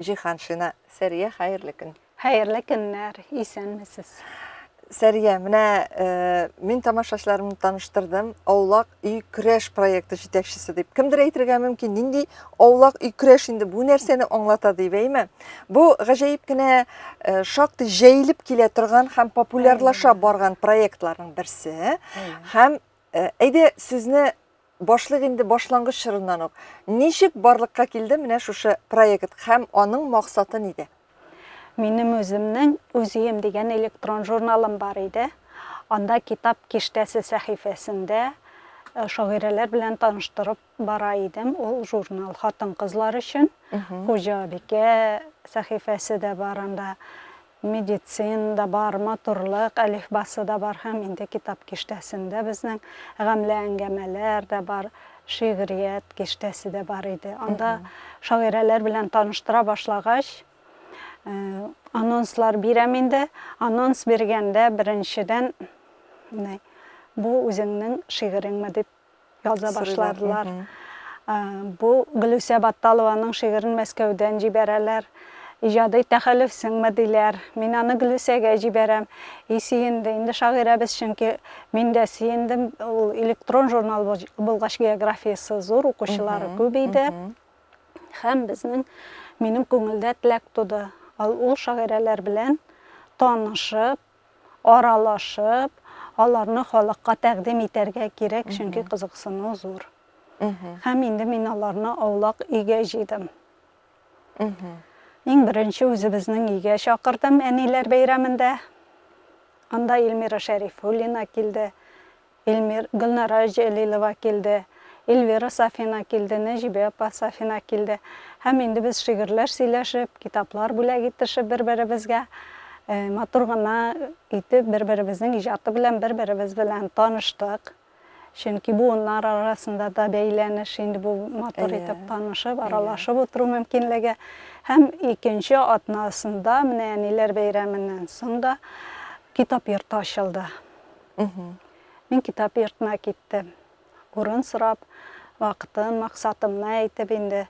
Җиһаншина Сәрия, хәерле көн. Хәерле көннәр, исәнмесез. Сәрия, менә э, мин тамашачыларымны таныштырдым. Аулак өй көрәш проекты җитәкчесе дип. Кемдер әйтергә мөмкин, нинди аулак өй көрәш инде бу нәрсәне аңлата дип, әйме? Бу гаҗәеп кенә э, шактый җәелеп килә торган һәм популярлаша барган проектларның берсе. Һәм э, әйдә сүзне Башлыйк инде башлангыч чорыннан ук. Ничек барлыкка килде менә шушы проект һәм аның максаты нидә? Минем үземнең Үз өем дигән электрон журналым бар иде. Анда Китап киштәсе сәхифәсендә шагыйрәләр белән таныштырып бара идем. Ул журнал хатын-кызлар өчен. Хуҗабикә сәхифәсе дә бар анда. Медицина да бар, матурлык әлифбасы да бар һәм инде китап киштәсендә безнең гамьле әңгәмәләр дә бар, шигърият киштәсе дә бар иде. Анда шагыйрәләр белән таныштыра башлагач, э, анонслар бирәм инде. Анонс биргәндә беренчедән, менә, бу үзеңнең шигыреңме дип Яза башлардылар. Бу Гөлүсә Батталованың шигырен Мәскәүдән җибәрәләр. Иҗади тәхәллүф сеңме, диләр. Мин аны Гөлүсәгә җибәрәм. И сөенде инде шагыйрәбез, чөнки мин дә сөендем. Ул электрон журнал булгач, географиясе зур, укучылары күп иде. Һәм безнең, минем күңелдә теләк туды. Ул шагыйрәләр белән танышып, аралашып, аларны халыкка тәкъдим итәргә кирәк, чөнки кызыксыну зур. Һәм инде мин аларны аулак өйгә җыйдым. Иң беренче үзебезнең өйгә чакырдым, әниләр бәйрәмендә. Анда Эльмира Шәрифуллина килде. Илмир, Гөлнара Җәлилова килде, Эльвира Сафина килде, Нәҗибә апа Сафина килде. Һәм инде без шигырьләр сөйләшеп, китаплар бүләк итешеп бер-беребезгә, матур гына итеп бер-беребезнең иҗаты белән бер-беребез белән таныштык. Чөнки буыннар арасында да бәйләнеш инде бу матур итеп танышып, аралашып утыру мөмкинлеге. Һәм икенче атнасында, менә әниләр бәйрәменнән соң да китап йорты ачылды. Мин китап йортына киттем. Урын сорап, вакытын, максатымны әйтеп инде.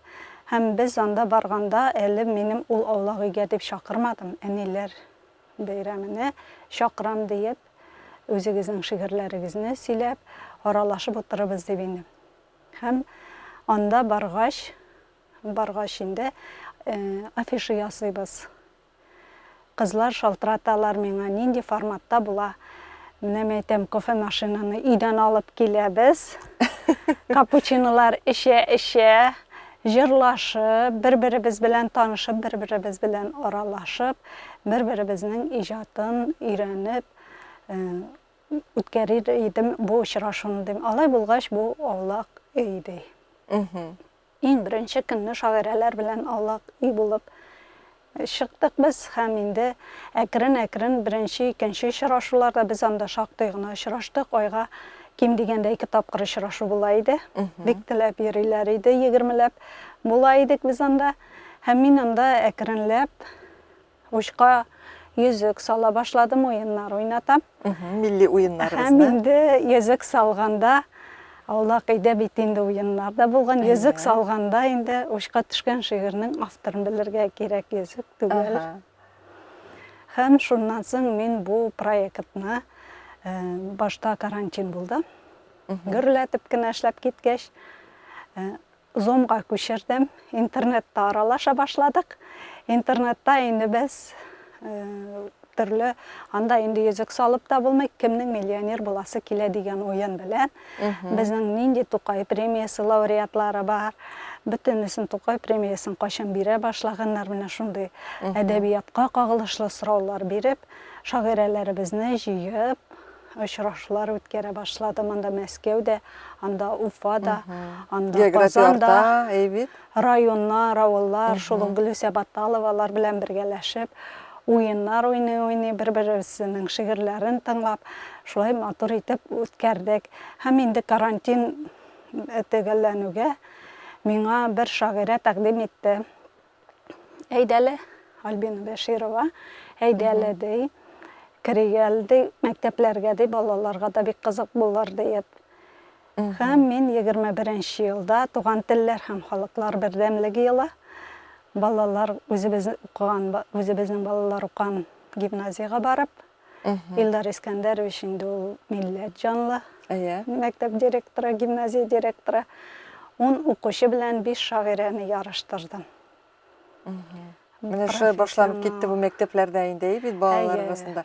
Һәм без анда барганда әле минем ул аулак өйгә дип чакырмадым, әниләр бәйрәменә чакырам диеп, үзегезнең шигырьләрегезне сөйләп, аралашып утырырбыз дип индем. Һәм анда баргач, баргач инде афиша ясыйбыз. Кызлар шалтыраталар миңа, нинди форматта була. Менә мин әйтәм, кофемашинаны өйдән алып киләбез. Капучинолар эчә-эчә, җырлашып, бер-беребез белән танышып, бер-беребез белән аралашып, бер-беребезнең иҗатын өйрәнеп э, үткәрер идем бу очрашуны дим. Алай булгач, бу аулак өй ди. Иң беренче көнне шагыйрәләр белән аулак өй булып чыктык без һәм инде әкрен-әкрен беренче, икенче очрашуларда без анда шактый гына очраштык. Айга ким дигәндә ике тапкыр очрашу була иде. Бик теләп йөриләр иде, егермеләп була идек без анда. Һәм мин анда әкренләп Учка йөзек сала башладым, уеннар уйнатам. Милли уеннарыбызны. Һәм инде йөзек салганда Аулак өйдә бит инде уеннар да булган. Йөзек салганда инде учка төшкән шигырьнең авторын белергә кирәк йөзек түгел. Һәм шуннан соң мин бу проектны э, башта карантин булды. Гөрләтеп кенә эшләп киткәч, э, Зумга күчердем, интернетта аралаша башладык. Интернетта инде без төрле анда инде йөзек салып та булмый кемнең миллионер буласы килә дигән уен белән безнең нинди тукай премиясе лауреатлары бар бөтенесен тукай премиясын кайчан бирә башлаганнар менә шундый әдәбиятка кагылышлы сораулар биреп шагыйрәләребезне җыеп очрашулар үткәрә башладым анда мәскәүдә анда уфада анда казанда районнар авыллар шул ук гөлүсә баталовалар белән бергәләшеп уеннар уйный уйный бер беребезнең шигырьләрен тыңлап шулай матур итеп үткәрдек һәм инде карантин төгәлләнүгә миңа бер шагыйрә тәкъдим итте Әйдә әле, Альбина Бәширова, әйдә әле, ди, керик әле, ди, мәктәпләргә, ди, балаларга да бик кызык булыр, диеп. Һәм мин 21 нче елда Туган телләр һәм халыклар бердәмлеге елы балалар үзебез укыган, үзебезнең балалар укыган гимназиягә барып, Илдар Искәндәрович инде ул милләт җанлы. Әйе. Мәктәп директоры, гимназия директоры. Ун укучы белән биш шагыйрәне ярыштырдым. Менә шулай башланып китте бу мәктәпләрдә инде и бит балалар арасында.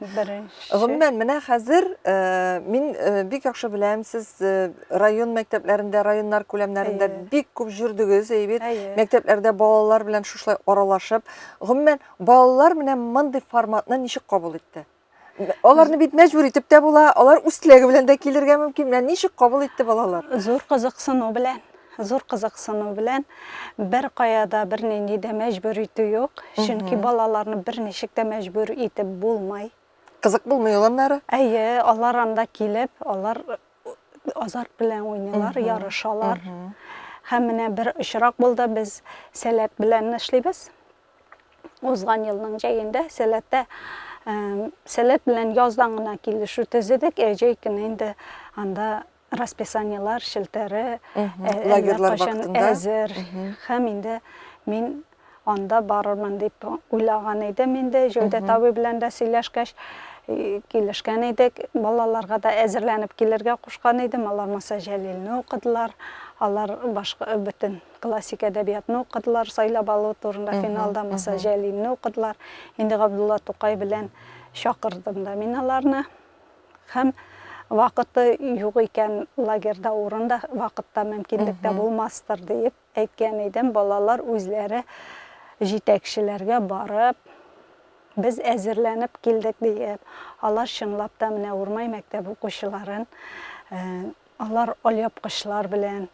Гомумән, менә хәзер э, мин э, бик яхшы беләм, сез э, район мәктәпләрендә, районнар күләмнәрендә бик күп җөрдегез, и бит. Мәктәпләрдә балалар белән шушылай аралашып, гомумән Балалар менә мондый форматны ничек кабул итте? Аларны бит мәҗбүр итеп тә була, алар үз теләге белән дә килергә мөмкин. Менә ничек кабул итте балалар? Зур кызыксыну белән зур кызыксыну белән бер каяда бер нинди дә мәҗбүр итү юк чөнки балаларны бер ничек тә мәҗбүр итеп булмай кызык булмый ул аннары әйе алар анда килеп алар азарт белән уйныйлар ярышалар һәм менә бер очрак булды без сәләт белән эшлибез Узган елның җәендә сәләттә сәләт белән яздан гына килешү төзедек, ә җәй көне инде анда расписаниелар челтәре лагерьлар вакытында әзер һәм инде мин анда барырмын дип уйлаган идем инде Җәүдәт абый белән дә сөйләшкәч килешкән идек. Балаларга да әзерләнеп килергә кушкан идем. Алар Маса Җәлилне укыдылар. Алар башка бөтен Классик әдәбиятны укыдылар, сайлап алу турында финалда Муса Җәлилне укыдылар. Инде Габдулла Тукай белән чакырдым да мин аларны. Һәм вакыты юк икән, лагерьда урын да, вакыт та, мөмкинлек тә булмастыр диеп әйткән идем. Балалар үзләре җитәкчеләргә барып, без әзерләнеп килдек диеп, алар чынлап та менә Урмай мәктәбе укучыларын Алар алъяпкычлар белән,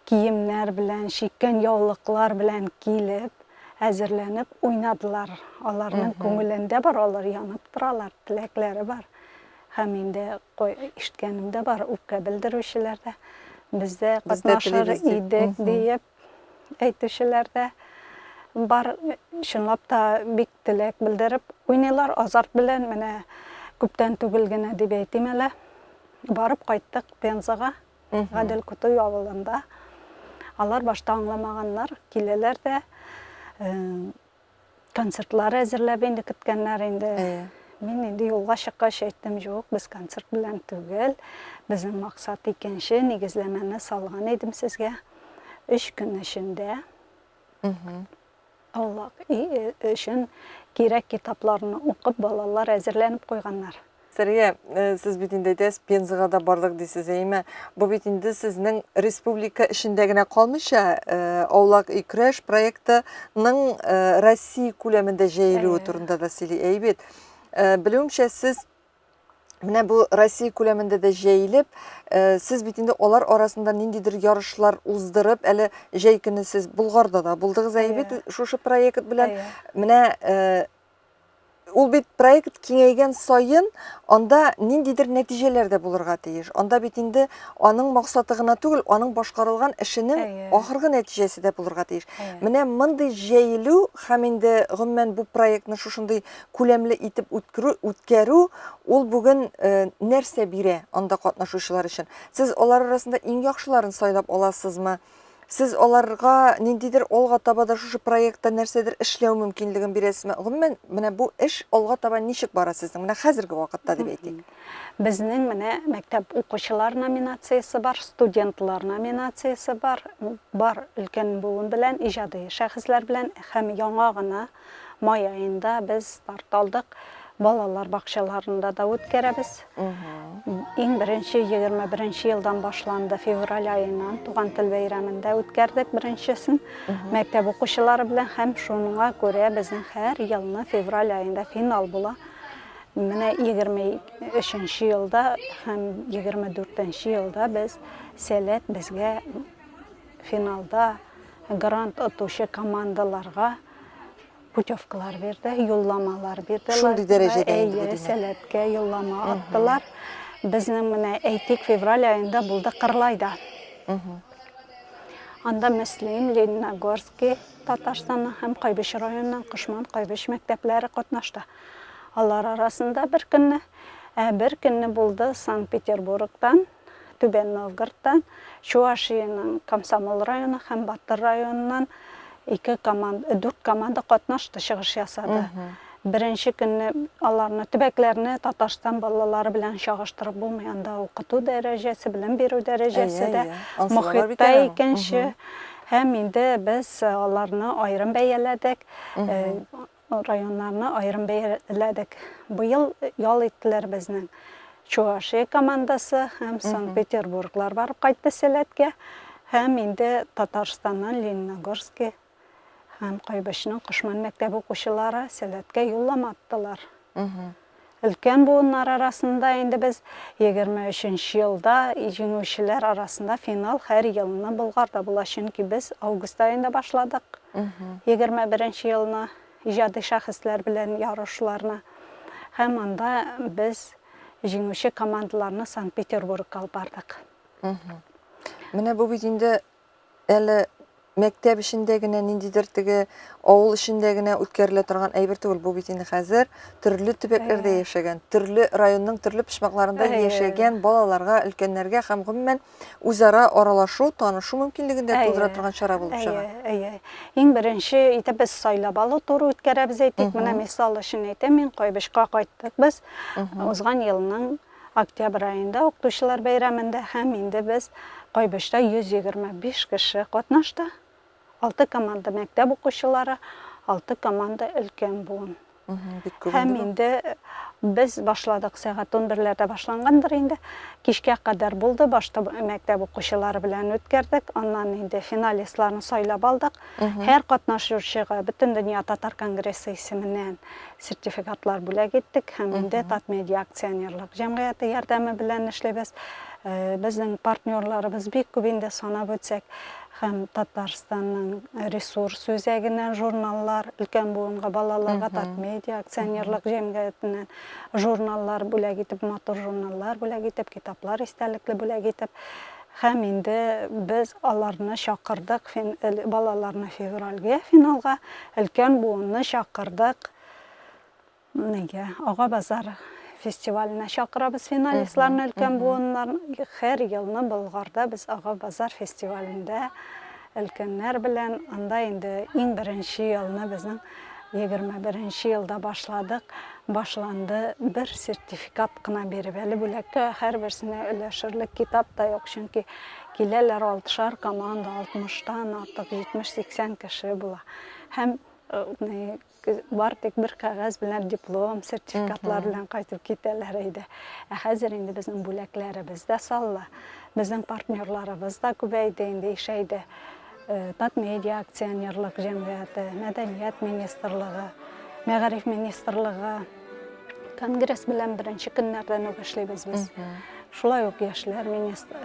киемнәр белән, чиккән яулыклар белән килеп, әзерләнеп уйнадылар. Аларның күңелендә бар, алар янып торалар, теләкләре бар. Һәм инде ишеткәнем дә бар, үпкә белдерүчеләр дә бездә катнашыр идек диеп, әйтүчеләр дә бар, чынлап та бик теләк белдереп уйныйлар, азарт белән, менә күптән түгел генә дип әйтим әле, барып кайттык Пензага, Гадел Кутуй авылында. Алар башта аңламаганнар, киләләр дә, Концертлар әзерләп инде көткәннәр инде. Әйе. Мин инде юлга чыккач әйттем, юк, без концерт белән түгел. Безнең максат икенче, нигезләмәне салган идем сезгә. Өч көн эчендә Аллах өчен кирәк китапларны укып, балалар әзерләнеп куйганнар. Сәрия, э, сез бит инде әйтәсез, Пензага да бардык дисез, әйме? Бу бит инде сезнең республика эчендә генә калмыйча, э, Аулак өй креш проектының э, Россия күләмендә җәелүе турында да сөйли. Әй бит, белүемчә, сез менә бу Россия күләмендә дә җәелеп, сез бит инде алар арасында ниндидер ярышлар уздырып, әле җәй көне сез Болгарда да булдыгыз, әй бит, шушы проект белән. Менә Ул бит проект киңәйгән саен, анда ниндидер нәтиҗәләр дә булырга тиеш. Анда бит инде аның максаты гына түгел, аның башкарылган эшенең ахыргы нәтиҗәсе дә булырга тиеш. Менә мондый җәелү һәм инде гомумән бу проектны шушындый күләмле итеп үткәрү, үткәрү ул бүген э, нәрсә бирә анда катнашучылар өчен? Сез алар арасында иң яхшыларын сайлап аласызмы? Сез аларга ниндидер алга таба да шушы проектта нәрсәдер эшләү мөмкинлеген бирәсезме? Гомумән, менә бу эш алга таба ничек бара сезнең? Менә хәзерге вакытта дип әйтик. Безнең менә мәктәп укучылар номинациясе бар, студентлар номинациясе бар, бар өлкән буын белән, иҗади шәхесләр белән һәм яңа гына Май аенда без старт алдык. Балалар бакчаларында да үткәрәбез. Иң беренче 21 елдан башланды. Февраль аеннан туган тел бәйрәмендә үткәрдек беренчесен. Мәктәп укучылары белән һәм шуңа күрә безнең һәр елны февраль аенда финал була. Менә 23 елда һәм 24 елда без Сәләт безгә финалда грант отучы командаларга путевкалар бирде, юлламалар бирделәр. Шундый дәрәҗәдә инде бу димәк. Сәләткә юллама аттылар. Безнең менә әйтик февраль аенда булды Кырлайда. Анда Мөслим, Лениногорский, Татарстанның һәм Кайбыч районының Кошман, Кайбыч мәктәпләре катнашты. Алар арасында бер көнне, ә бер көнне булды Санкт-Петербургтан Түбән Новгородтан, Чуашиянең Комсомол районы һәм Батыр районыннан ике команда, дүрт команда катнашты, чыгыш ясады. Беренче көнне аларны, төбәкләрне Татарстан балалары белән чагыштырып булмый. Анда укыту дәрәҗәсе, белем бирү дәрәҗәсе дә, мохит та икенче. Һәм инде без аларны аерым бәяләдек. Районнарны аерым бәяләдек. Быел ял иттеләр безнең Чувашия командасы һәм Санкт-Петербурглар барып кайтты сәләткә. Һәм инде Татарстаннан Лениногорски һәм Кайбычның Кошман мәктәбе укучылары сәләткә юллама аттылар. Мхм. Өлкән буыннар арасында инде без егерме өченче елда җиңүчеләр арасында финал һәр елны Болгарда була, чөнки без август аенда башладык егерме беренче елны иҗади шәхесләр белән ярышларны һәм анда без җиңүче командаларны Санкт-Петербургка алып бардык. Менә бу бит инде Әле мәктәп эчендә генә ниндидер теге авыл эчендә генә үткәрелә торган әйбер түгел. Бу бит инде хәзер төрле төбәкләрдә Әйе. яшәгән, төрле районның төрле почмакларында Әйе. яшәгән балаларга, өлкәннәргә һәм гомумән үзара аралашу, танышу мөмкинлеген дә тудыра Әйе. торган чара булып чыга. Әйе, әйе. Иң беренче итеп без сайлап алу туры үткәрәбез әйтик. Менә Мгм. мисал өчен әйтәм мин, Кайбычка кайттык без Мгм. узган елның Октябрь аенда укытучылар бәйрәмендә һәм инде без Кайбычта 125 кеше катнашты. Алты команда мәктәп укучылары, алты команда өлкән буын. Һәм инде без башладык сәгать 11-ләрдә башлангандыр инде. Кичкә кадәр булды, башта мәктәп укучылары белән үткәрдек, аннан инде финалистларны сайлап алдык. Һәр катнашучыга Бөтендөнья татар конгрессы исеменнән сертификатлар бүләк иттек һәм инде Татмедиа акционерлык җәмгыяте ярдәме белән эшлибез. Безнең партнерларыбыз бик күп инде санап үтсәк һәм Татарстанның ресурс үзәгеннән журналлар, өлкән буынга, балаларга Татмедиа акционерлык җәмгыятеннән журналлар бүләк итеп, матур журналлар бүләк итеп, китаплар истәлекле бүләк итеп, Һәм инде без аларны чакырдык, балаларны февральгә финалга, өлкән буынны чакырдык нигә, Ага базар фестиваленә чакырабыз финалистларны, өлкән буыннар, һәр елны Болгарда без Ага базар фестивалендә Өлкәннәр белән анда инде иң беренче елны безнең егерме беренче елда башладык, башланды. Бер сертификат кына биреп, әле бүләккә һәрберсенә өләшерлек китап та юк, чөнки киләләр алтышар команда, алтмыштан артык, җитмеш-сиксән кеше була. Һәм Бар тик бер кәгазь белән диплом, сертификатлар белән кайтып китәләр иде. Ә хәзер инде безнең бүләкләребез дә салла. Безнең партнерларыбыз да күбәйде инде, ишәйде. Татмедиа акционерлык җәмгыяте, Мәдәният министрлыгы, Мәгариф министрлыгы, Конгресс белән беренче көннәрдән үк эшлибез без. Шулай ук яшьләр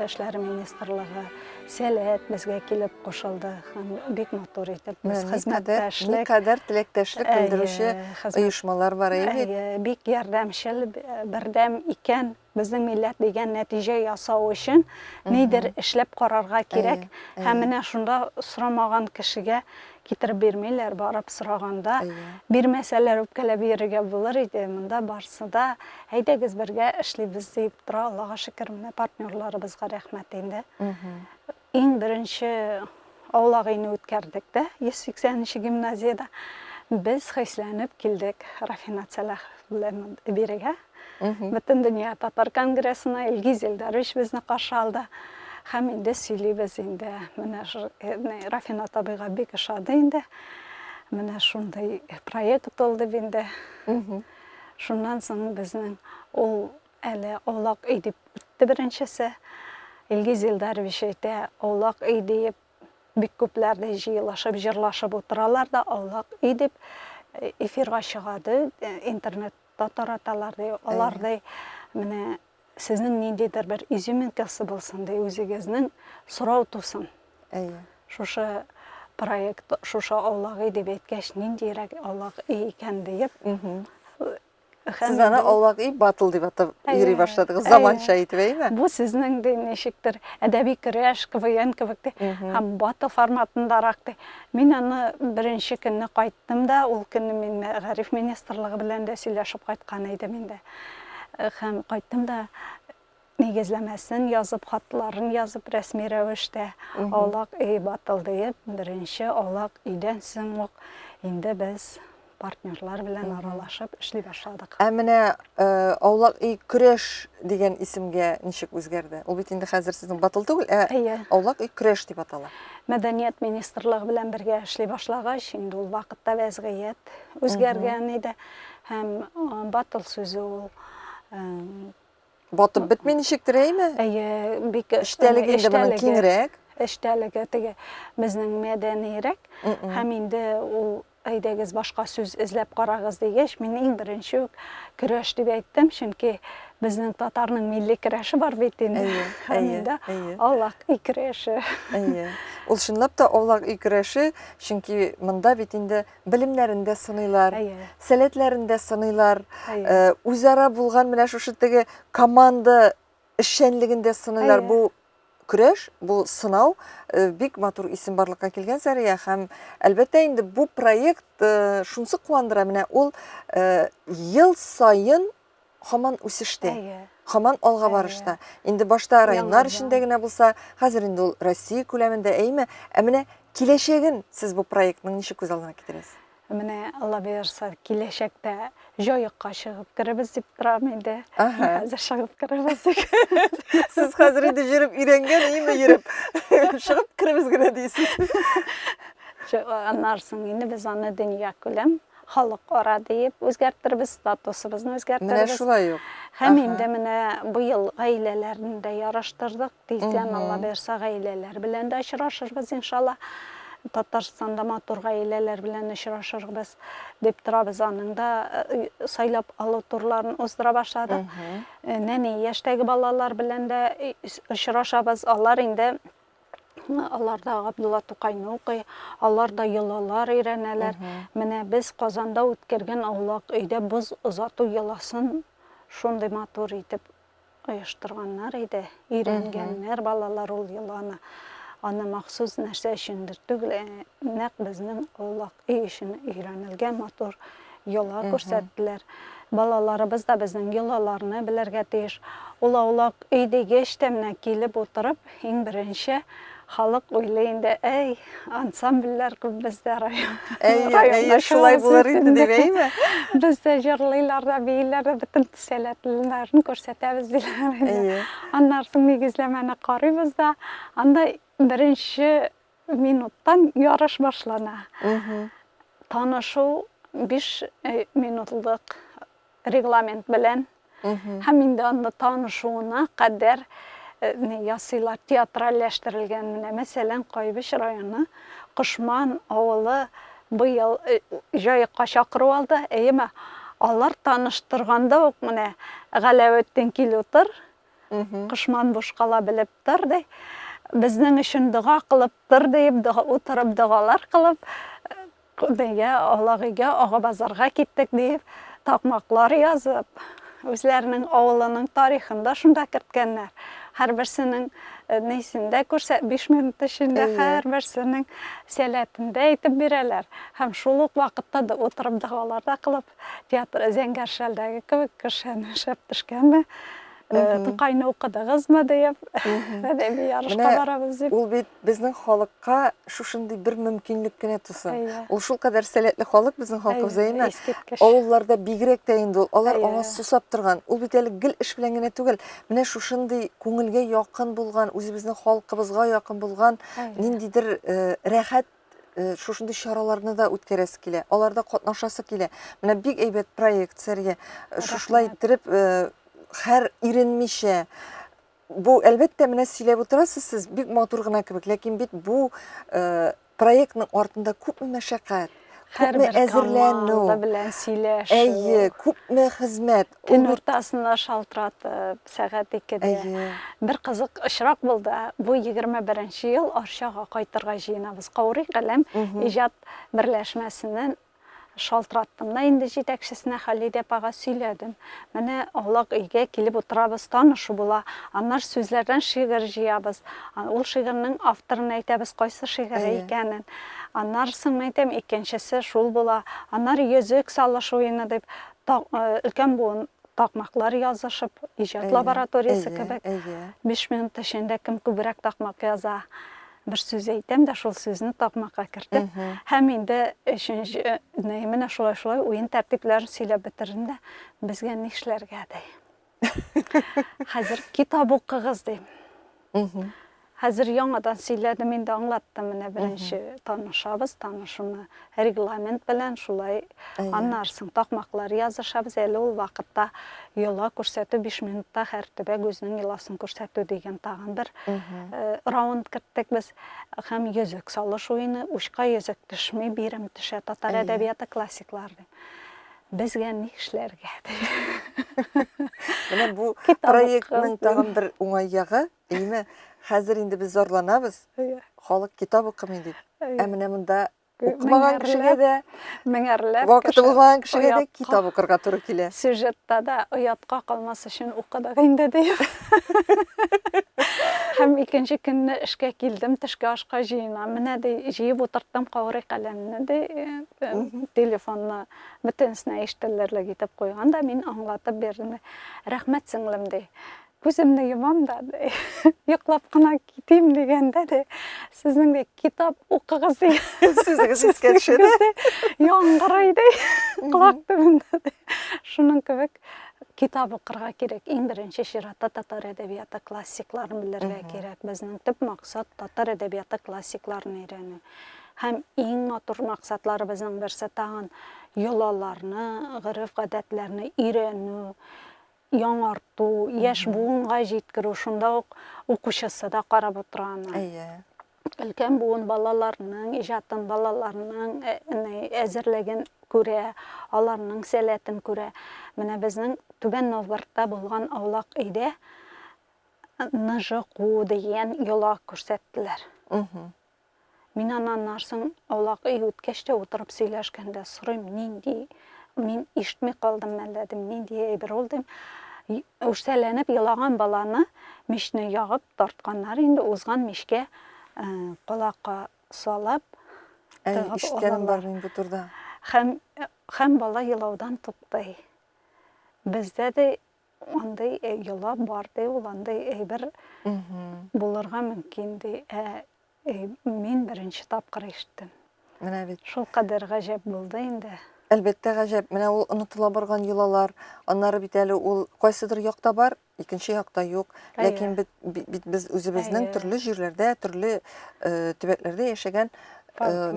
эшләре министрлыгы, сәләт безгә килеп кушылды һәм бик матур итеп без хезмәттәшлек. Никадәр теләктәшлек белдерүче оешмалар бар бит. Бик ярдәмчел, бердәм икән Безнең милләт дигән нәтиҗә ясау өчен нидер эшләп карарга кирәк. Һәм менә шунда сорамаган кешегә китереп бирмиләр, барып сораганда. Бирмәсәләр, үпкәләп йөрергә булыр иде. Монда барсы да, әйдәгез бергә эшлибез, диеп тора. Аллага шөкер, менә партнерларыбызга рәхмәт инде. Иң беренче аулак өйне үткәрдек дә, 180 нче гимназиядә. Без хисләнеп килдек Рафинат Сәлахов белән бирегә. Бөтен дөнья татар конгрессына Илгиз Илдарович безне каршы алды. Һәм инде сөйлибез инде. Менә э, Рафинат абыйга бик ошады инде. Менә шундый проект ул дип инде. Шуннан соң безнең ул Әле аулак өй дип үтте беренчесе. Илгиз Илдарович әйтә, аулак өй диеп бик күпләр дә җыелышып, җырлашып утыралар да, аулак өй дип э, эфирга чыга ди, э, интернетта тараталар ди. Алар ди, менә сезнең ниндидер бер изюминкасы булсын ди, үзегезнең сорау тусын. Әйе. Шушы проект, шушы аулак өй дип әйткәч, ниндирәк аулак өй икән диеп, Сез аны аулак и батыл дип атап йөри башладыгыз, заманча итеп, әйме? Бу сезнең дә ничектер әдәби көрәш, КВН кебек ди, һәм батыл форматындарак ди. Мин аны беренче көнне кайттым да, ул көнне мин мәгариф министрлыгы белән дә сөйләшеп кайткан идем инде. Һәм кайттым да, нигезләмәсен язып, хатларын язып, рәсми рәвештә аулак өй батыл диеп, беренче аулак өйдән соң ук инде без партнерлар белән аралашып эшли башладык. Ә менә э, аулак өй көрәш дигән исемгә ничек үзгәрде? Ул бит инде хәзер сезнең батыл түгел, ә Әйе. аулак өй көрәш дип атала. Мәдәният министрлыгы белән бергә эшли башлагач, инде ул вакытта вәзгыять үзгәргән иде һәм э, батыл сүзе ул э, Батып бетми ничектер, әйме? Әйе, бик эчтәлек инде моның киңрәк. Эчтәлеге теге безнең мәдәнирәк һәм инде ул әйдәгез башка сүз эзләп карагыз дигәч, мин иң беренче үк көрәш дип әйттем, чөнки безнең татарның милли көрәше бар бит инде. Әйе, әйе. Аулак өй көрәше. Әйе. Ул чынлап та аулак өй көрәше, чөнки монда бит инде белемнәрен дә сыныйлар, сәләтләрен дә сыныйлар, үзара булган менә шушы теге команда эшчәнлеген дә сыныйлар. Бу көрәш, бу сынау бик матур исем барлыкка килгән Сәрия һәм әлбәттә инде бу проект шунсы куандыра, менә ул ел саен һаман үсештә. Әйе. Һаман алга барышта. Инде башта районнар эчендә генә булса, хәзер инде ул Россия күләмендә, әйеме? Ә менә киләчәген сез бу проектның ничек күз алдына китерәсез? Менә Алла боерса, киләчәктә җаекка чыгып керебез дип торам инде. Ага. Хәзер чыгып керебез дип. Сез хәзер инде йөреп өйрәнгән, әйеме, йөреп. Чыгып керебез генә дисез. Аннарсын инде без аны дөнья күләм Халыкара диеп үзгәртербез, статусыбызны үзгәртербез. Менә шулай ук. Һәм инде менә быел гаиләләрне дә яраштырдык. Тиздән Алла бирса гаиләләр белән дә очрашырбыз иншалла. Татарстанда матур гаиләләр белән очрашырбыз дип торабыз. Аның да э, сайлап алу турларын уздыра башладык. Э, нәни яшьтәге балалар белән дә очрашабыз. Алар инде Алар да Габдулла Тукайны укый, алар да йолалар өйрәнәләр. Менә без Казанда үткәргән аулак өйдә боз озату йоласын шундый матур итеп оештырганнар иде. Өйрәнгәннәр балалар ул йоланы. Аны махсус нәрсә өчендер түгел, нәкъ безнең аулак өй өчен өйрәнелгән матур йола. йола күрсәттеләр. Балаларыбыз да безнең йолаларны белергә тиеш. Ул аулак өй дигеч тә менә килеп утырып, иң беренче халык уйлый инде, әй, ансамбльләр күп бездә район. Әйе, әйе, шулай булыр инде дип, әйеме? Бездә җырлыйлар да, бииләр дә, бөтен сәләтлеләрен күрсәтәбез диләр инде. Әйе. Аннары соң нигезләмәне карыйбыз да, анда беренче минуттан ярыш башлана. Танышу 5 э, минутлык регламент белән һәм инде анда танышуына кадәр э, ясыйлар театральләштерелгән менә мәсәлән кайбыч районы кошман авылы быел э, җаекка чакыру алды әйеме алар таныштырганда ук менә галәветдин кил утыр Кошман бушкала белеп тор, ди. Безнең өчен дога кылып тор, диеп, утырып догалар кылып, нигә Алагыйгә ага базарга киттек дип, такмаклар язып, үзләренең авылының тарихын да шунда керткәннәр. Һәрберсенең э, нисендә күрсә, 5 минут эчендә һәрберсенең сәләтендә әйтеп бирәләр. Һәм шул ук вакытта да утырып догалар да кылып, Театр зәңгәр шәлдәге кебек кешән шәп төшкәнме? Тукайны укыдыгызмы диеп, әдәби ярышка барабыз дип. Ул бит безнең халыкка шушындый бер мөмкинлек кенә туса. Ул шул кадәр сәләтле халык безнең халкыбыз әйме? Авылларда бигрәк тә инде ул. Алар аңа сусап торган. Ул бит әле гел эш белән генә түгел. Менә шушындый күңелгә якын булган, үзебезнең халкыбызга якын булган ниндидер рәхәт э, шушындый чараларны да үткәрәсе килә аларда катнашасы килә менә бик әйбәт проект сәрия э, шушылай иттереп э, хәр иренмичә бу әлбәттә менә сөйләп утырасыз сез бик матур гына кебек ләкин бит бу проектның артында күпме мәшәкать күпме әзерләнү белән сөйләшү әйе күпме хезмәт көн уртасында шалтыратып сәгать икедә. Әйе. Бер кызык очрак булды. Бу 21 ел Арчага кайтырга җыенабыз. Каурый каләм иҗат берләшмәсеннән шалтыраттым да инде җитәкчесенә Халидә апага сөйләдем. Менә аулак өйгә килеп утырабыз, танышу була. Аннар сүзләрдән шигырь җыябыз. Ул шигырьнең авторын әйтәбез, кайсы шигыре икәнен. Аннар соң әйтәм, икенчесе шул була. Аннар йөзек салыш уены дип, өлкән буын такмаклар язышып, иҗат лабораториясе кебек, биш минут эчендә кем күбрәк такмак яза, бер сүз әйтәм дә, шул сүзне такмакка кертеп, һәм инде өченче, менә шулай-шулай уен тәртипләрен сөйләп бетердем дә, безгә нишләргә, ди. Хәзер китап укыгыз, дим. Хәзер яңадан сөйләдем, инде аңлаттым, менә беренче танышабыз, танышуны регламент белән шулай. Аннары соң такмаклар язышабыз, әле ул вакытта йола күрсәтү 5 минутта һәр төбәк үзенең йоласын күрсәтү дигән тагын бер э, раунд керттек без. Һәм йөзек салыш уены, учка йөзек төшми, бирем төшә, татар әдәбияты классиклар дип. Безгә ни эшләргә? Менә бу проектның тагын бер уңай ягы, әйме, хәзер инде без зарланабыз, халык китап укымый дип. Ә менә монда укымаган кешегә дә, меңәрләп вакыты булмаган кешегә дә китап укырга туры килә. Сюжетта да оятка калмас өчен укыдык инде дип. Һәм икенче көнне эшкә килдем, төшке ашка җыена. Менә ди, җыеп утырттым каурый каләмне ди. телефонны бөтенесенә ишетелерлек итеп куйган да мин аңлатып бирдем рәхмәт сеңлем ди күземне йомам да йоклап кына китим дигәндә ди сезнең ди китап укыгыз дигән сүзегез искә төшә яңгырый ди колак төбендә шуның кебек китап укырга кирәк иң беренче чиратта татар әдәбияты классикларын белергә кирәк безнең төп максат татар әдәбияты классикларын өйрәнү Һәм иң матур максатларыбызның берсе тагын йолаларны, гореф-гадәтләрне өйрәнү, яңарту, яшь буынга җиткерү, шунда ук укучысы да карап утыра аны. Әйе. Өлкән буын балаларның иҗатын, балаларның э, әзерлеген күрә, аларның сәләтен күрә. Менә безнең Түбән Новгородта булган аулак өйдә ныжы куу дигән йола күрсәттеләр. Мин аннан нарсын аулак өй үткәч тә утырып сөйләшкәндә сорыйм, нинди, мин ишетми калдыммы әллә, дим, нинди әйбер ул, дим. Үрсәләнеп елаган баланы мичне ягып тартканнар инде, узган мичкә колакка салып, Әй, тыгып ишеткәнем алалар. бар мин бу турда. Һәм, һәм бала елаудан туктый. Бездә дә Андый э, йола бар ди, ул андый әйбер булырга мөмкин ди. Ә э, мин беренче тапкыр ишеттем. Менә бит. Шул кадәр гаҗәп булды инде. Әлбәттә гаҗәп. Менә ул онытыла барган йолалар, аннары бит әле ул кайсыдыр якта бар, икенче якта юк. Ләкин бит, бит без үзебезнең төрле җирләрдә, төрле э, төбәкләрдә яшәгән Э,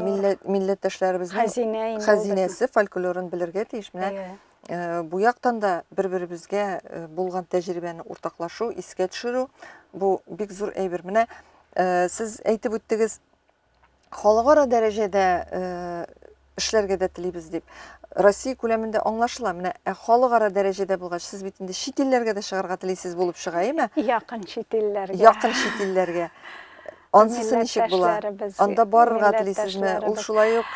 милләттәшләребезнең хәзинәсе фольклорын белергә тиеш менә Э, бу яктан да бер беребезгә э, булган тәҗрибәне уртаклашу искә төшерү бу бик зур әйбер менә э, сез әйтеп үттегез халыкара дәрәҗәдә эшләргә дә телибез дип россия күләмендә аңлашыла менә ә халыкара дәрәҗәдә булгач сез бит инде чит илләргә дә чыгарга телисез булып чыга яме якын чит илләргә якын чит илләргә Ансысы ничек була? Анда барырга телисезме? Ул шулай ук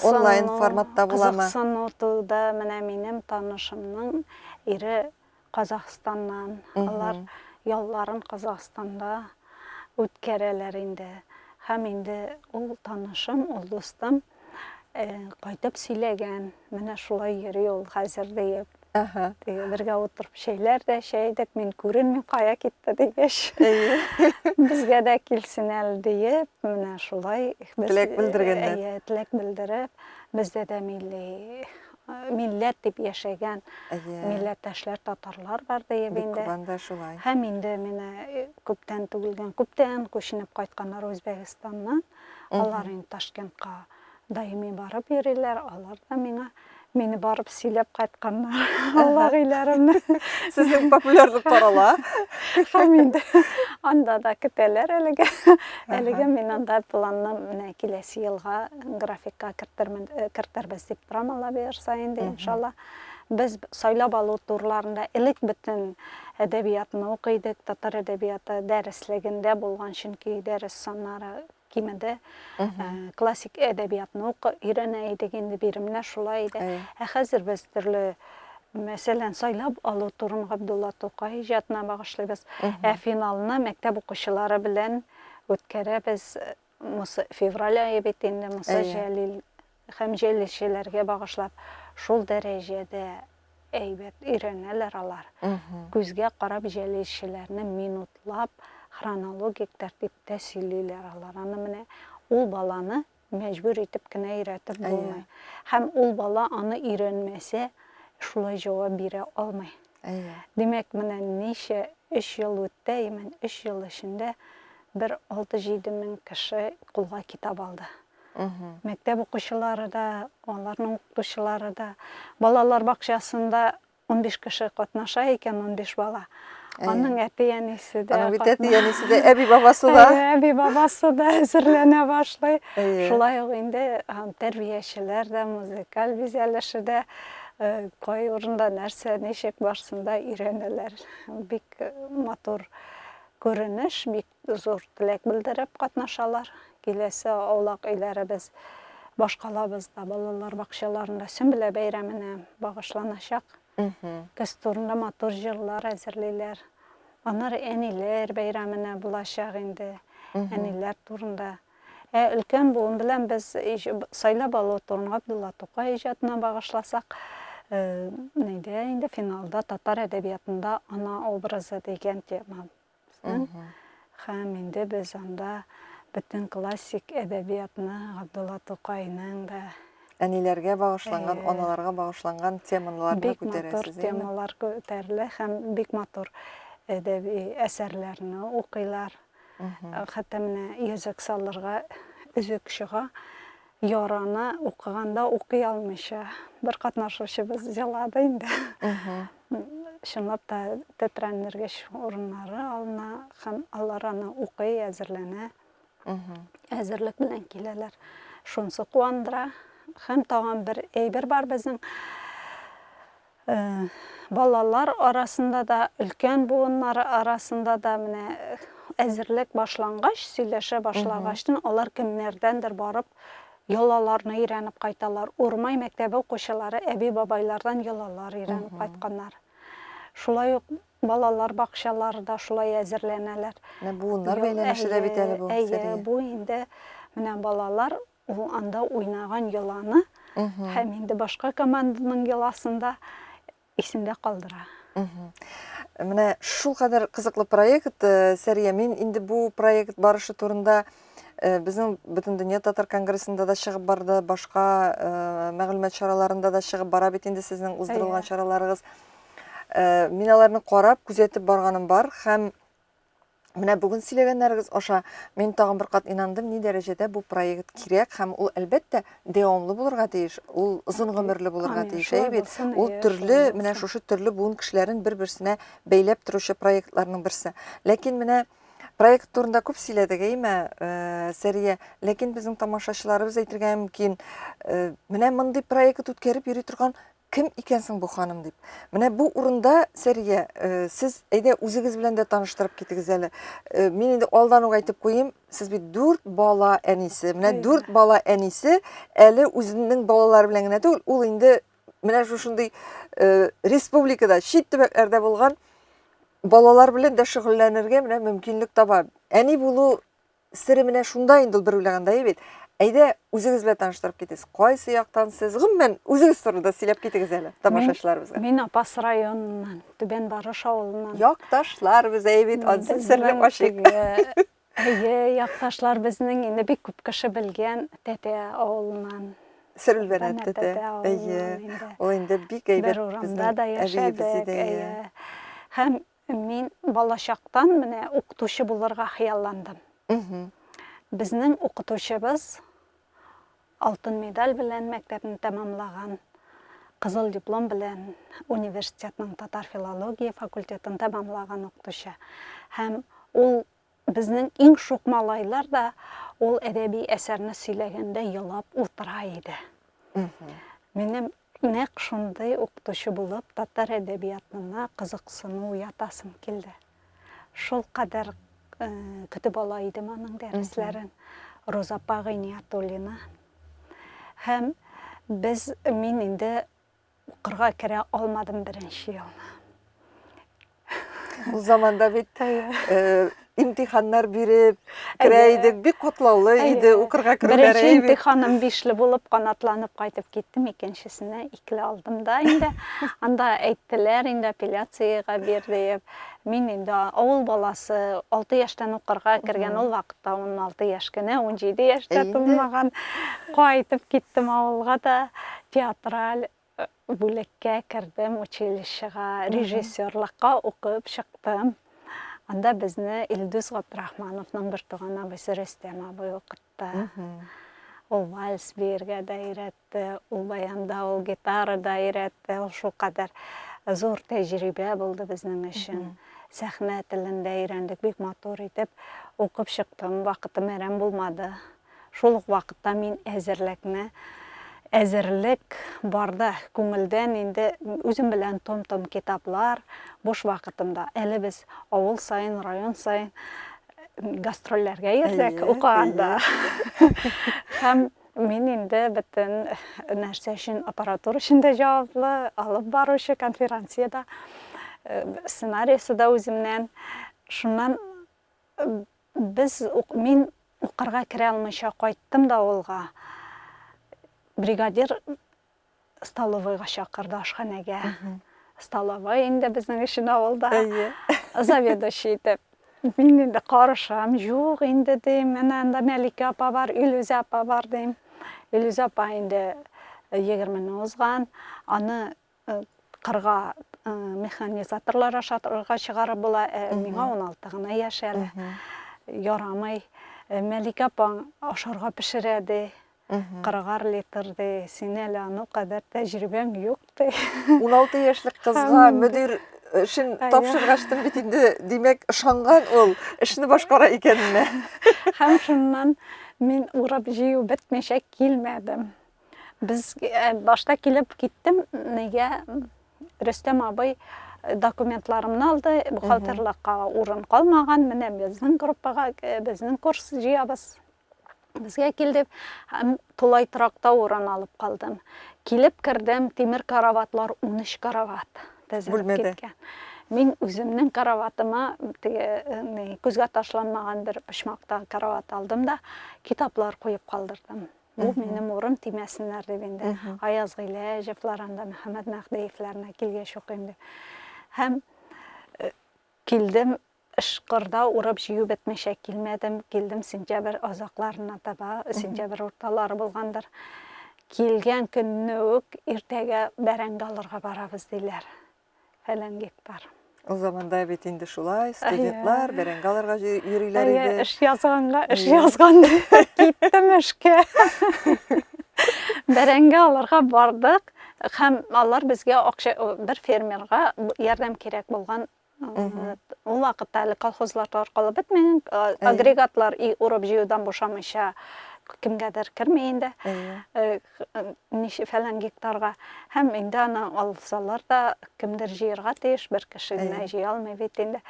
онлайн форматта буламы? Кызыксыну туды. Менә минем танышымның ире Казахстаннан. Алар ялларын Казахстанда үткәрәләр инде. Һәм инде ул танышым, ул дустым Кайтып сөйләгән, менә шулай йөри ул хәзер диеп. Ага. Теге бергә утырып чәйләр дә чәйдек, мин күренми кая китте дигәч. Безгә дә килсен әле диеп, менә шулай теләк белдергәннәр. Әйе, теләк белдереп, бездә дә милли милләт дип яшәгән милләттәшләр татарлар бар диеп инде. Бик шулай. Һәм инде менә күптән түгелгән, күптән күченеп кайтканнар Үзбәкстаннан. Алар инде Ташкентка даими барып йөриләр, алар да миңа мине барып сөйләп кайтканнар. Алла гыйләремне. Сезнең популярлык тарала. Хәм инде анда да көтәләр әлегә. Әлегә мин анда планны менә киләсе елга графикка кертермен, кертербез дип торам, Алла боерса инде, иншалла. Без сайлап алу турларында элек бөтен әдәбиятны укый идек, татар әдәбияты дәреслегендә булган, чөнки дәрес саннары кимеде. Ә, Классик әдәбиятны ук өйрәнә идек, инде биремнәр шулай иде. Әйе. Ә хәзер без төрле, мәсәлән, сайлап алу турын Габдулла Тукай иҗатына багышлыйбыз. Ә финалны мәктәп укучылары белән үткәрәбез. Мосы февраль ае бит инде, Муса Җәлил һәм җәлилчеләргә багышлап, шул дәрәҗәдә әйбәт өйрәнәләр алар. Күзгә карап җәлилчеләрне минутлап, хронологик тәртиптә сөйлиләр алар. Аны менә ул баланы мәҗбүр итеп кенә өйрәтеп булмый. Һәм ул бала аны өйрәнмәсә, шулай җавап бирә алмый. Әйе. Димәк, менә ничә өч ел үтте, имән өч ел эчендә бер алты-җиде мең кеше кулга китап алды. Мәктәп укучылары да, аларның укытучылары да. Балалар бакчасында унбиш кеше катнаша икән, унбиш бала. Аның әти-әнисе дә. Аның бит әти-әнисе дә, әби-бабасы да. Әби-бабасы да әзерләнә башлый. Шулай ук инде тәрбиячеләр дә, музыкаль бизәлеше дә Э, кай урында нәрсә ничек барсын да өйрәнәләр бик э, матур күренеш бик зур теләк белдереп катнашалар киләсе аулак өйләребез башкалабызда балалар бакчаларында сөмбелә бәйрәменә багышланачак көз турында матур җырлар әзерлиләр аннары әниләр бәйрәменә булачак инде әниләр турында Ә өлкән буын белән без сайлап алу турын Габдулла Тукай иҗатына багышласак, әйдә инде финалда татар әдәбиятында ана образы дигән тема безнең. Һәм инде без анда бөтен классик әдәбиятны Габдулла Тукайның да әниләргә багышланган, аналарга багышланган темаларны күтәрәсез. Бик матур темалар күтәрелә һәм бик матур әдәби әсәрләрне укыйлар. Хәтта менә йөзек салырга өзек чыга. Яраны укыганда укый алмыйча бер катнашучыбыз елады инде. Чынлап та тетрәндергеч урыннары алына һәм алар аны укый, әзерләнә. Әзерлек белән киләләр. Шунысы куандыра. Һәм тагын бер әйбер бар безнең. Балалар арасында да, өлкән буыннар арасында да менә әзерлек башлангач, сөйләшә башлагачтын, алар кемнәрдәндер барып йолаларны өйрәнеп кайталар. Урмай мәктәбе укучылары әби-бабайлардан йолалар өйрәнеп кайтканнар. Шулай ук балалар бакчалары да шулай әзерләнәләр. Менә буыннар бәйләнеше дә бит әле бу, Сәрия. Әйе, бу инде менә балалар Ул анда уйнаган йоланы һәм инде башка команданың йоласын да исендә калдыра. Менә шул кадәр кызыклы проект, э, Сәрия, мин инде бу проект барышы турында э, безнең Бөтендөнья татар конгрессында да чыгып барды, башка э, мәгълүмат чараларында да чыгып бара бит инде сезнең уздырылган чараларыгыз. Мин аларны карап, күзәтеп барганым бар һәм Менә бүген сөйләгәннәрегез аша мин тагын бер кат инандым, ни дәрәҗәдә бу проект кирәк һәм ул әлбәттә дәвамлы булырга тиеш, ул озын гомерле булырга тиеш, әйе бит? Ул төрле, менә шушы төрле буын кешеләрен бер-берсенә бәйләп торучы проектларның берсе. Ләкин менә проект турында күп сөйләдек, әйеме, э, Сәрия? Ләкин безнең тамашачыларыбыз әйтергә мөмкин, э, менә мондый проект үткәреп йөри торган Кем икән соң бу ханым дип. Менә бу урында, Сәрия, э, сез әйдә үзегез белән дә таныштырып китегез әле. Э, мин инде алдан ук әйтеп куйыйм, сез бит дүрт бала әнисе. Менә дүрт бала әнисе әле үзенең балалары белән генә түгел, ул инде менә шушындый э, республикада, чит төбәкләрдә булган балалар белән дә шөгыльләнергә менә мөмкинлек таба. Әни булу Сере менә шунда инде ул бер уйлагандае бит. Әйдә, үзегез белән таныштырып китегез. Кайсы яктан сез? Гомумән, үзегез турында сөйләп китегез әле тамашачыларыбызга. Мин Апас районыннан, Түбән Барыш авылыннан. Якташлар без, әйе бит, ансын серле ачык. Әйе, якташлар безнең инде бик күп кеше белгән Тәтә авылыннан. Сөрелбәнәт тәтә. Әйе. Ул инде бик әйбәт. Бер урамда да яшәдек. Һәм Мин балачактан менә укытучы булырга хыялландым. Безнең укытучыбыз алтын медаль белән мәктәпне тәмамлаган, кызыл диплом белән университетның татар филология факультетын тәмамлаган укытучы. Һәм ул Безнең иң шук малайлар да ул әдәби әсәрне сөйләгәндә елап утыра иде. Минем нәкъ шундый укытучы булып татар әдәбиятына кызыксыну уятасым килде. Шул кадәр э, көтеп ала идем аның дәресләрен. Роза апа Гыйниятуллина. Һәм без мин инде Укырга керә алмадым беренче елны. Ул заманда бит э, имтиханнар биреп керә идек, бик катлаулы иде укырга керүләре. Беренче имтиханым бишле булып канатланып кайтып киттем, икенчесенә икле алдым да инде. Анда әйттеләр, инде апелляциягә бир диеп. Мин инде авыл баласы, 6 яшьтән укырга кергән ул вакытта 16 яшь кенә, 17 яшьтә тулмаган. Кайтып киттем авылга да. Театраль бүлеккә кердем, училищега, режиссерлыкка укып чыктым. Анда безне Илдус Габдрахмановның бертуган абыйсы Рөстәм абый укытты. Ул вальс биергә дә өйрәтте, ул баянда, ул гитара да өйрәтте. Ул шулкадәр зур тәҗрибә булды безнең өчен. Сәхнә телен дә өйрәндек бик матур итеп. Укып чыктым, вакытым әрәм булмады. Шул ук вакытта мин әзерлекне, әзерлек барда, күңелдән инде үзем белән том-том китаплар, буш вакытымда, әле без авыл саен, район саен гастрольләргә йөрдек, укыганда. Һәм мин инде бөтен нәрсә өчен, аппаратура өчен дә җаваплы, алып баручы конференциядә, сценариясе дә үземнән. Шуннан Без, мин укырга керә алмыйча кайттым да авылга. Бригадир столовойга чакырды, ашханәгә. Столовой инде безнең өчен авылда. Заведующий итеп. Мин инде карышам, юк инде дим, менә анда Мәликә апа бар, Илүзә апа бар дим. Илүзә апа инде 20 ны узган, аны Кырга механизаторлар ашатырга чыгарып була, ә миңа уналты гына яшь әле. Ярамый. Мәликә апаң ашарга пешерә ди. Кырыгар литр ди. Син әле ану кадәр тәҗрибәң юк ди. Уналты яшьлек кызга мөдир эшен тапшыргаштым бит инде, димәк, ышанган ул, эшне башкара икәненә. Һәм шуннан мин урап җыю бетмичә килмәдем. Без э, башта килеп киттем, нигә Рөстәм абый э, документларымны алды, бухгалтерлыкка урын калмаган, менә безнең группага, э, безнең курс җыябыз. Безгә килдек, һәм тулай торакта урын алып калдым. Килеп кердем, тимер караватлар 13 карават тезелеп киткән. Мин үземнең караватыма теге күзгә ташланмаган бер почмакта карават алдым да, китаплар куеп калдырдым. Бу минем урын тимәсеннәр дип инде. Аяз Гыйләҗевлар анда Мөхәммәд Мәһдиевләрне килгәч укыйм дип. Һәм э, килдем ышкырда урып җыю бетмичә килмәдем. Килдем сентябрь азакларына таба, сентябрь урталары булгандыр. Килгән көнне үк иртәгә бәрәңге алырга барабыз диләр. фәлән гектар. Ул заманда бит инде шулай, студентлар бәрәңге алырга йөриләр иде. Әйе, эш язганга, эш язган киттем эшкә. Бәрәңге алырга бардык һәм алар безгә акча бер фермерга ярдәм кирәк булган ул вакытта әле колхозлар таркалып бетмәгән агрегатлар и урып җыюдан бушамыйча кемгәдер керми инде ничә фәлән гектарга, һәм инде аны алсалар да, кемдер җыерга тиеш, бер кеше генә җыя алмый бит инде.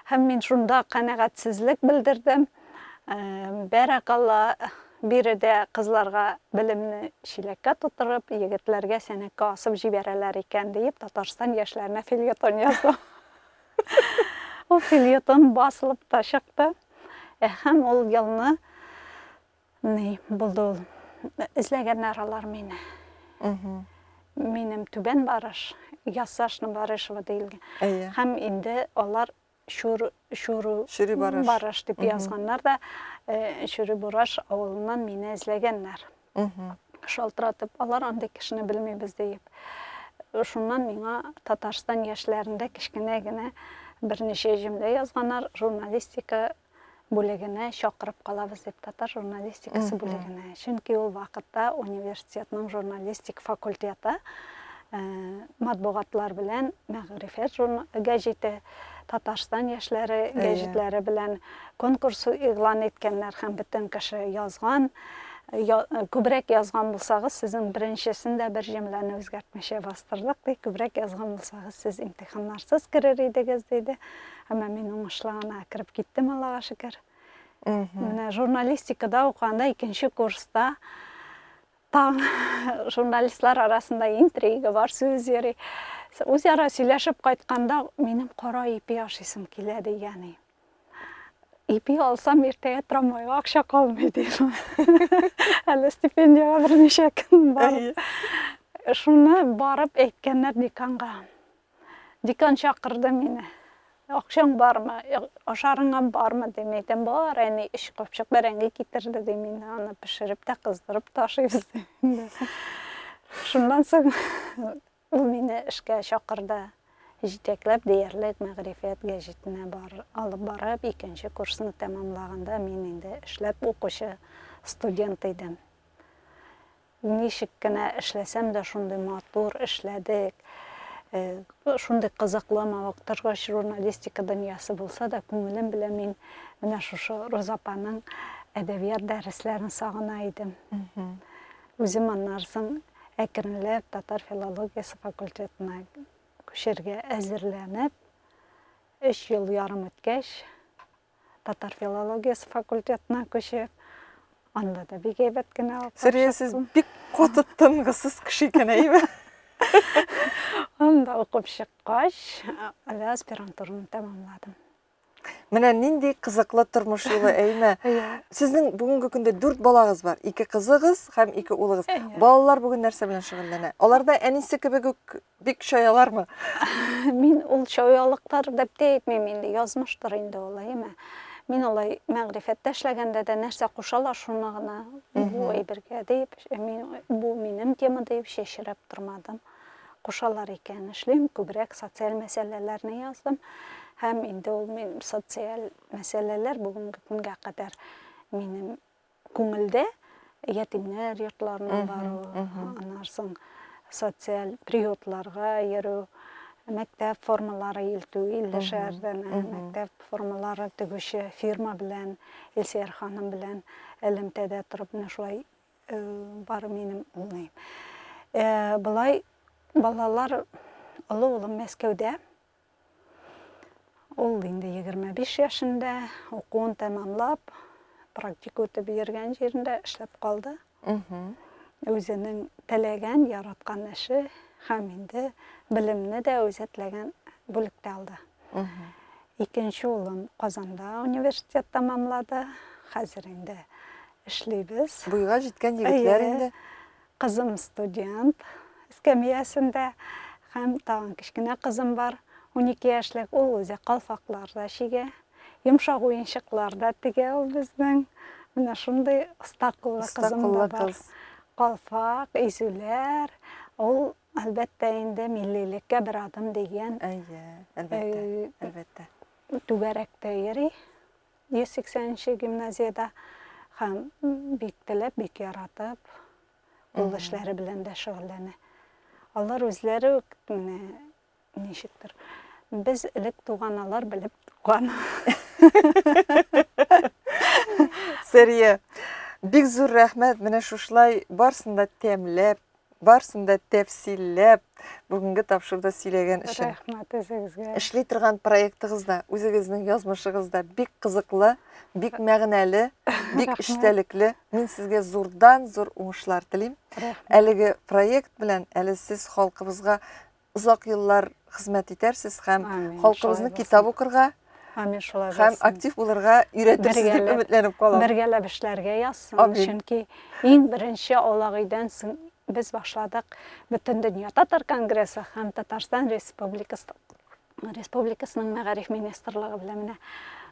Һәм мин шунда канәгатьсезлек белдердем. Бәрәкалла, биредә кызларга белемне чиләккә тутырып, егетләргә сәнәккә асып җибәрәләр икән, диеп, Татарстан яшьләренә фельетон яздым. Ул фельетон басылып та чыкты. Һәм ул елны Ни булды ул? Эзләгәннәр алар мине. Минем түбән барыш, ясашны барышева диелгән. Әйе. Һәм инде алар шур шур шури барыш. барыш дип язганнар да, э, шури барыш авылыннан мине эзләгәннәр. Шалтыратып, алар андый кешене белмибез диеп. Шуннан миңа Татарстан яшьләрендә кечкенә генә берничә җөмлә язганнар, журналистика бүлегенә чакырып калабыз дип, татар журналистикасы бүлегенә. Чөнки ул вакытта университетның журналистик факультеты э, матбугатлар белән мәгърифәт гәҗите, Татарстан яшьләре гәҗитләре белән конкурс игълан иткәннәр һәм бөтен кеше язган. Күбрәк язган булсагыз, сезнең беренчесен дә бер җөмләне үзгәртмичә бастырдык, ди. Күбрәк язган булсагыз, сез имтиханнарсыз керер идегез, диде. Әмма мин уңышлы гына кереп киттем, Аллага шөкер. Менә журналистикада укыганда икенче курста таң журналистлар арасында интрига бар, сүз йөри. Үзара сөйләшеп кайтканда минем кара ипи ашыйсым килә дигәни. Ипи алсам иртәгә трамвайга акча калмый дим. Әле стипендияга берничә көн бар. Шуны барып әйткәннәр деканга. Декан чакырды мине. Акчаң бармы, ашарыңа бармы, дим. Әйтәм, бар, әни, өч капчык бәрәңге китерде, дим. Инде аны пешереп тә, кыздырып ташыйбыз, дим. Шуннан соң ул мине эшкә чакырды. Җитәкләп диярлек Мәгърифәт гәҗитенә бар, алып барып, икенче курсны тәмамлаганда мин инде эшләп укучы студент идем. Ничек кенә эшләсәм дә шундый матур эшләдек, шундый кызыклымы, вакытыргач журналистика дөньясы булса да, күңелем белән мин менә шушы Роза апаның әдәбият дәресләрен сагына идем. Үзем аннан соң әкренләп татар филологиясе факультетына күчәргә әзерләнеп, өч ел ярым үткәч, татар филологиясе факультетына күчеп, анда да бик әйбәт кенә укып Сөрия, сез бик каты тынгысыз кеше икән, әйеме? Анда укып чыккач, әле аспирантураны тәмамладым. Менә нинди кызыклы тормыш юлы, әйме? Сезнең бүгенге көндә дүрт балагыз бар. Ике кызыгыз һәм ике улыгыз. Балалар бүген нәрсә белән шөгыльләнә? Алар да әнисе кебек үк Бик чаялармы? Мин ул чаялыктар дип тә әйтмим инде, язмыштыр инде ул, әйеме? Мин алай мәгърифәттә эшләгәндә дә нәрсә кушалар, шуны гына бу әйбергә дип, мин бу минем тема дип чәчрәп тормадым. Кушалар икән эшлим, күбрәк социаль мәсьәләләрне яздым. Һәм инде ул мин социаль мәсьәләләр бүгенге көнгә кадәр минем Күңелдә ятимнәр йортларына бару, аннан соң социаль приютларга йөрү, мәктәп формалары илтү, илле шәһәрдән мәктәп формалары тегүче фирма белән, Илсияр ханым белән элемтәдә торып менә шулай бар минем улым. Болай балалар олы улым Мәскәүдә, Ул инде 25 яшендә укуын тәмамлап, практика үтеп йөргән җирендә эшләп калды. Үзенең теләгән, яраткан эше һәм инде белемне дә үзе теләгән бүлектә алды. Икенче улым Казанда университет тәмамлады. Хәзер инде эшлибез. Буйга җиткән егетләр инде. Кызым студент, эскәмиясендә, һәм тагын кечкенә кызым бар, унике яшьлек, ул үзе калфаклар да чигә, йомшак уенчыклар да тегә ул безнең. Менә шундый оста куллы кызым да бар. Калфак, изүләр, ул, әлбәттә инде, миллилеккә бер адым дигән. Әйе, әлбәттә, әлбәттә. Түгәрәктә йөри. 180 нче гимназиядә һәм бик теләп, бик яратып, кул эшләре белән дә шөгыльләнә. Алар үзләре үк менә ничектер. Без элек туган, алар белеп туган. Сәрия, бик зур рәхмәт. Менә шушылай барсын да тәмләп, Барсын да тәфсилләп бүгенге тапшыруда сөйләгән өчен. Рәхмәт үзегезгә. Эшли торган проектыгыз да, үзегезнең язмышыгыз да бик кызыклы, бик мәгънәле, бик эчтәлекле. Мин сезгә зурдан-зур уңышлар телим. Әлеге проект белән әле сез халкыбызга Озак еллар хезмәт итәрсез һәм халкыбызны китап укырга Амин шулай булсын. Һәм актив булырга өйрәтерсез дип өметләнеп калам. Бергәләп эшләргә язсын. Чөнки иң беренче Алагыйдән соң без башладык бөтен дөнья татар конгрессы һәм Татарстан Республикасы Республикасының мәгариф министрлыгы белән менә